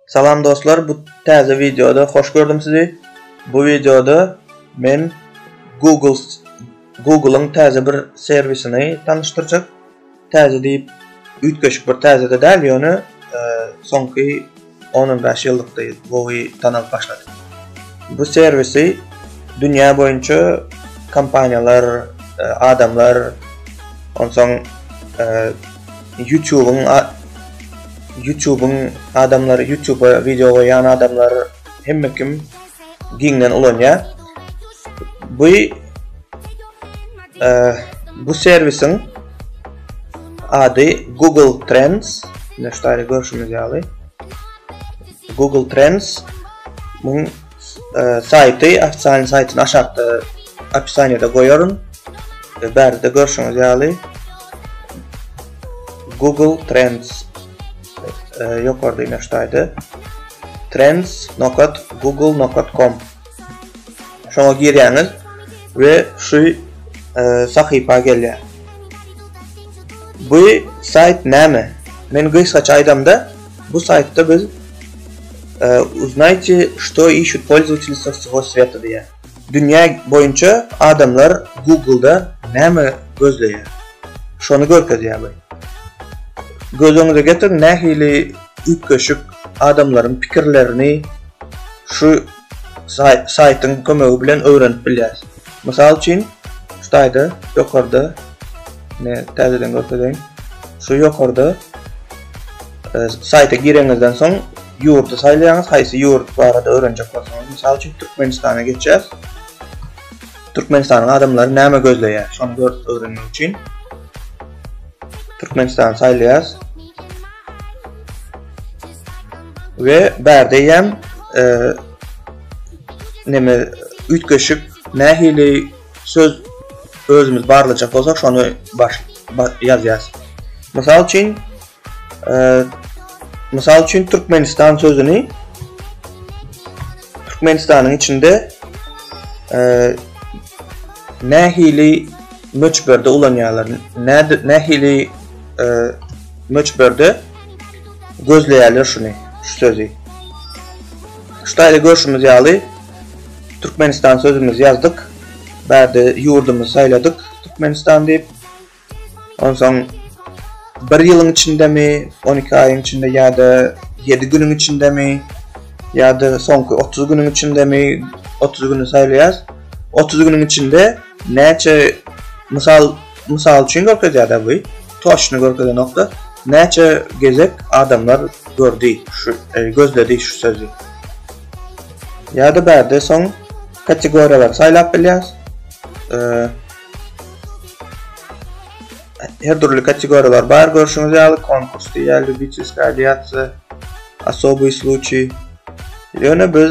Salam dostlar, bu täze wideoda hoş gördüm sizi. Bu wideoda men Google Google'yň täze bir serwisini tanyşdyrjak. Täze diýip üýtgeşik bir täze de däl, ýöne e, soňky 10-15 ýyllykda gowy tanalyp başlady. Bu serwisi dünýä boýunça kompaniýalar, e, adamlar, onsoň e, Ýutubyň Ýutubyň adamlary Ýutuba wideo goýýan adamlar hemme kim giňden ulanýar. Bu bu servisiň ady Google Trends. Näştaýda görşümiz ýaly. Google Trends muň saýty, ofitsialnyý saýtyny aşakda opisaniýada goýaryn. Bärde görşüňiz ýaly Google Trends ýokarda ine ştaýda trends.google.com şoňa girýäňiz we şu sahypa gelýär. Bu saýt näme? Men gysgaça aýdamda Bu saýtda biz Uznayte, şto işut polzwateli sa wsego sweta diýýär. Dünýä boýunça adamlar Google-da näme gözleýär? Şony görkezýär bu. Göz öňüňize getiriň, nähili üýtgeşik adamlaryň pikirlerini şu saýtyň kömegi bilen öwrenip bilýäris. Mysal üçin, şu taýda ýokarda, ine, täzeden görkezeýin, şu ýokarda saýta gireňizden soň ýurdy saýlaýaňyz, haýsy ýurt barada öwrenjek bolsaňyz, mysal üçin, Türkmenistana geçýäs. Türkmenistanyň adamlary näme gözleýär, şony görüp öwrenmek üçin Türkmenistany saýlaýarys. we bärde ýem neme üýtgeşik nähili söz özümiz barlajak bolsak şony baş ýazýas. Mysal üçin Mysal üçin Türkmenistan sözüni Türkmenistanyň içinde nähili möçberde ulanýarlar? Nähili möçberde gözleýärler şuny, şu sözi. Şu taýda görşümiz ýaly, Türkmenistan sözümizi ýazdyk. Bärde ýurdumyzy saýladyk Türkmenistan diýip. Onsoň bir ýylyň içindemi, 12 aýyň içinde ýa-da 7 günüň içindemi, ýa-da soňky 30 günüň içindemi, 30 güni saýlaýas. 30 günüň içinde näçe mysal Mysal üçin görkezýärde bu toçny görkezen nokta näçe gezek adamlar gördi şu gözledi şu sözi. Ýada bärde soň kategoriýalary saýlap bilýäs. Her dürli kategoriýalar bar görşüňiz ýaly konkurs diýýär, lubitelskaya diýýär, asobyý sluçiý. Ýöne biz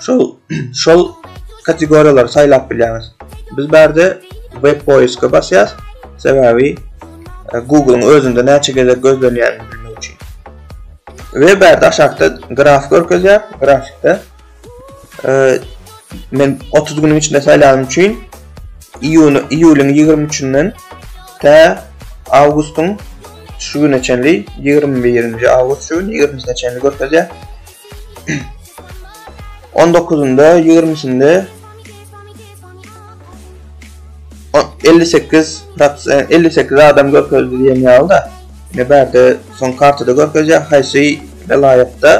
Şol şol kategoriýalary saýlap bilýäňiz. Biz bärde web poiska basýas. Sebäbi e, Google-yň özünde näçe gezek gözlenýänini bilmek üçin. We bärde aşakda graf görkezýär. Grafikde e, men 30 günüň içinde saýlanym üçin iýun iýulyň 23-inden tä awgustyň şu güne çenli 21-nji awgust şu gün 20-sine çenli görkezýär. On dokuzynda, ýigrimisinde elli sekiz prosent, elli sekiz adam görkezdi diýen ýaly-da. Ine bärde soň kartada görkezýär, haýsy welaýatda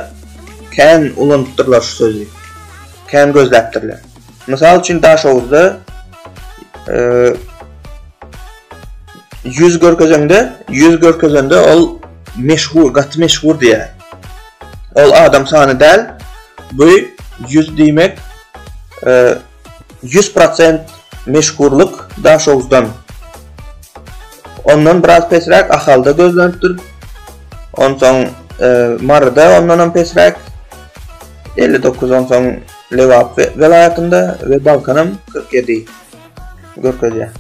kän ulanypdyrlar şu sözi. Kän gözläpdirler. Mysal üçin Daşoguzda 100 görkezende, 100 görkezende ol meşhur, gaty meşhur diýýär. Ol adam sany däl, bu ýüz diýmek ýüz prosent meşhurlyk Daşoguzdan. Ondan biraz pesräk Ahalda gözlenipdir. Onsoň Maryda ondanam pesräk elli dokuz onsoň Lebap welaýatynda we Balkanam kyrk ýedi görkezýär.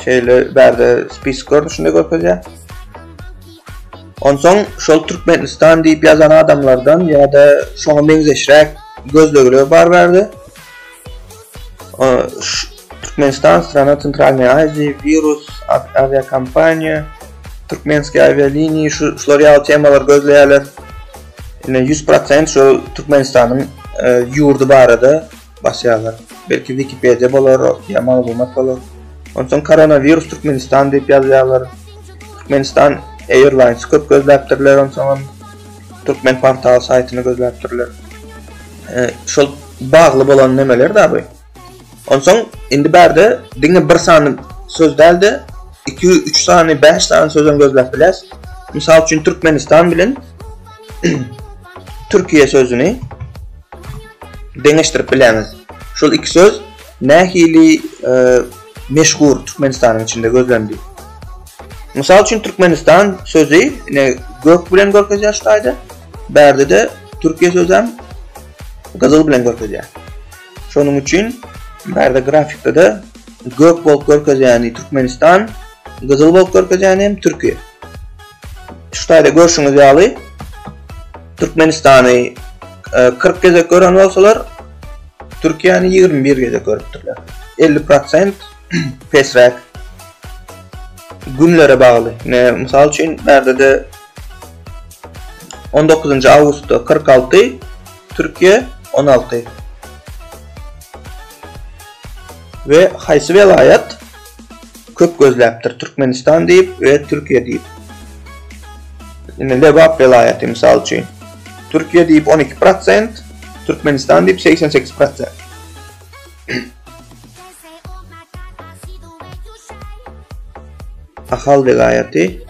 Şeýle bärde spisik görnüşinde görkezýär. Onsoň şol Türkmenistan diýip ýazan adamlardan ýa-da şoňa meňzeşräk gözlegler bar bärde. Türkmenistan, strana Centralnyýa Aziýa, wirus, awiakompaniýa, türkmenskiý awialiniýa şular ýaly temalary gözleýärler. Ine 100% şol Türkmenistanyň ýurdy barada Bas ýazar. Belki Wikipediýa bolar, ýa maglumat bolar. Onsoň Koronawirus Türkmenistan diýip ýazýarlar. Türkmenistan Airlines köp gözläpdirler, onsoňam Türkmen portal saýtyny gözläpdirler. E, şol bagly bolan nemeler da bu. Onsoň indi bärde diňe bir sany söz däldi. 2 3 sany, 5 sany sözüň gözläp biläs. Mysal üçin Türkmenistan bilen Türkiýe sözüni deňeşdirip bileňiz. Şol iki söz nähili e, meşhur Türkmenistanyň içinde gözlendi. Mysal üçin Türkmenistan sözi ine gök bilen görkezýär şu taýda. Bärde de Türkiýe sözi hem gyzyl bilen görkezýär. Şonuň üçin bärde grafikde de gök bolup görkezýäni Türkmenistan, gyzyl bolup görkezýäni hem Türkiýe. Şu taýda görşüňiz ýaly, Türkmenistany kyrk gezek gören bolsalar, Türkiýäni ýigrimi bir gezek görüpdirler. Elli prosent pesräk. Günlere bagly. Ne, mysal üçin, bärde-de on dokuzynjy awgustda kyrk alty, Türkiýe on alty. We haýsy welaýat? köp gözläpdir Türkmenistan diýip we Türkiýe diýip. Indi Lebap welaýaty mysal üçin Türkiýe diýip on iki prosent, Türkmenistan diýip segsen sekiz prosent. Ahal welaýaty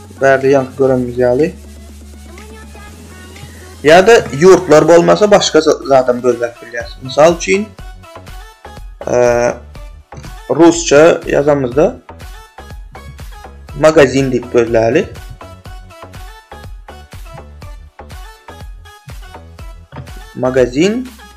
Bärde ýaňky görenimiz ýaly. Ýa-da ýurtlar bolmasa başga zadam gözläp bilýäris. Mysal üçin, eee, rusça ýazamyzda magazin diýip gözläli. Magazin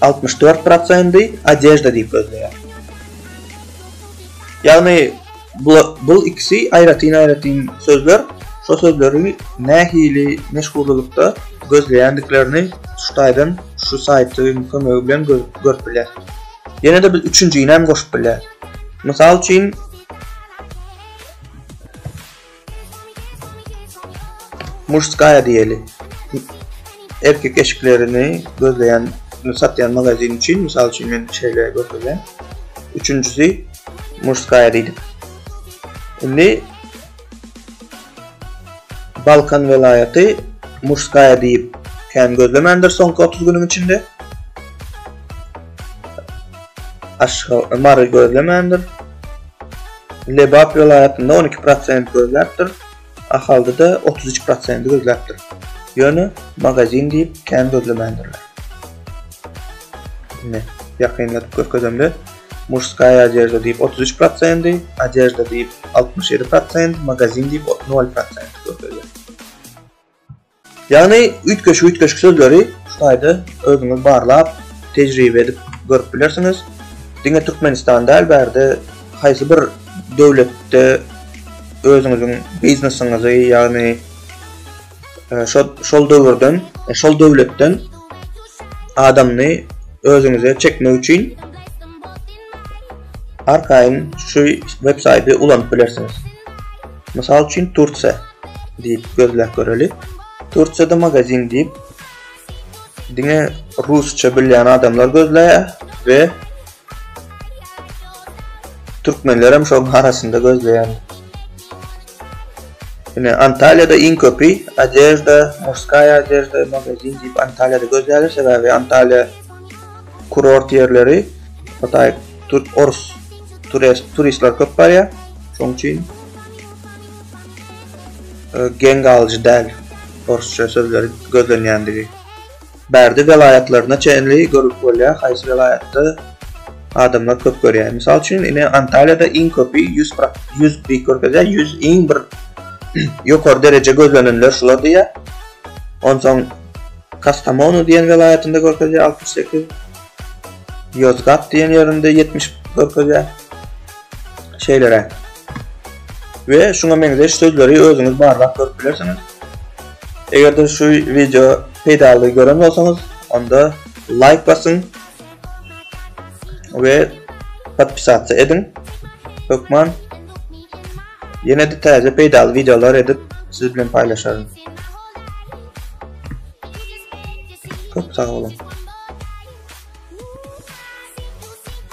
Altmyş dört prosenty odežda diýip gözleýär. Ýagny bul ikisi aýratyn-aýratyn sözler, şo sözleri nähili meşhurlylykda gözleýändiklerini şu taýdan şu saýtyň kömegi bilen görüp bilýär. Ýene-de biz üçünjini hem goşup bilýäris. Mysal üçin. Muşskaya diýeli. Erkek eşiklerini gözleýän, satýan magazin üçin, mysal üçin men şeýle görkezýän. Üçünjisi Muşskaya diýdik. Indi Balkan welaýaty Muşskaya diýip kän gözlemändir soňky 30 günüň içinde. Aşgabat, Mary gözlemändir. Lebap welaýatynda on iki prosent gözläpdir. Ahalda-da otuz üç prosent gözläpdir. Ýöne magazin diýip kän gözlemändirler. Ine, ýakynladyp görkezemde, Muşskaya odejda diýip otuz üç prosent, Odejda diýip altmyş ýedi prosent, Magazin diýip nol prosent görkezýär. Ýagny üýtgeşik-üýtgeşik sözleri şu taýda özüňiz barlap, tejribe edip görüp bilersiňiz. Diňe Türkmenistan däl, bärde haýsy bir döwletde özüňiziň biznesiňizi, ýagny şo şol döwürden, şol döwletden adamny özüňize çekmek üçin arkaýyn şu websaýty ulanyp bilersiňiz. Mysal üçin Tursiýa diýip gözläp göreli. Tursiýada magazin diýip diňe rusça bilýän adamlar gözläýär we türkmenler hem şoň arasynda gözleýän. Ine Antalyada iň köpi Adejda, Murskaya Adejda magazin diýip Antalyada gözleýärler, sebäbi Antalya kurort ýerleri, Hytaý, Türk, Ors turistler köp barýar. Şoň üçin e, geň galyjy däl orsça sözleri gözlenýändigi. Bärde welaýatlaryna çenli görüp bolýar, haýsy welaýatda adamlar köp görýär. Mysal üçin, ine Antalýada iň köpi 100 100 diýip görkezýär, 100 iň bir ýokary dereje gözlenenler şular diýýär. Onsoň Kastamonu diýen welaýatynda görkezýär 68 Ýozgat diýen ýerinde ýetmiş görkezýär. Şeýleräk. We şuňa meňzeş sözleri özüňiz barlap görüp bilersiňiz. Eger-de şu wideo peýdaly gören bolsaňyz, onda laýk basyň we podpisasiýa ediň. Hökman ýene-de täze peýdaly wideolar edip siz bilen paýlaşaryn. Köp sag boluň.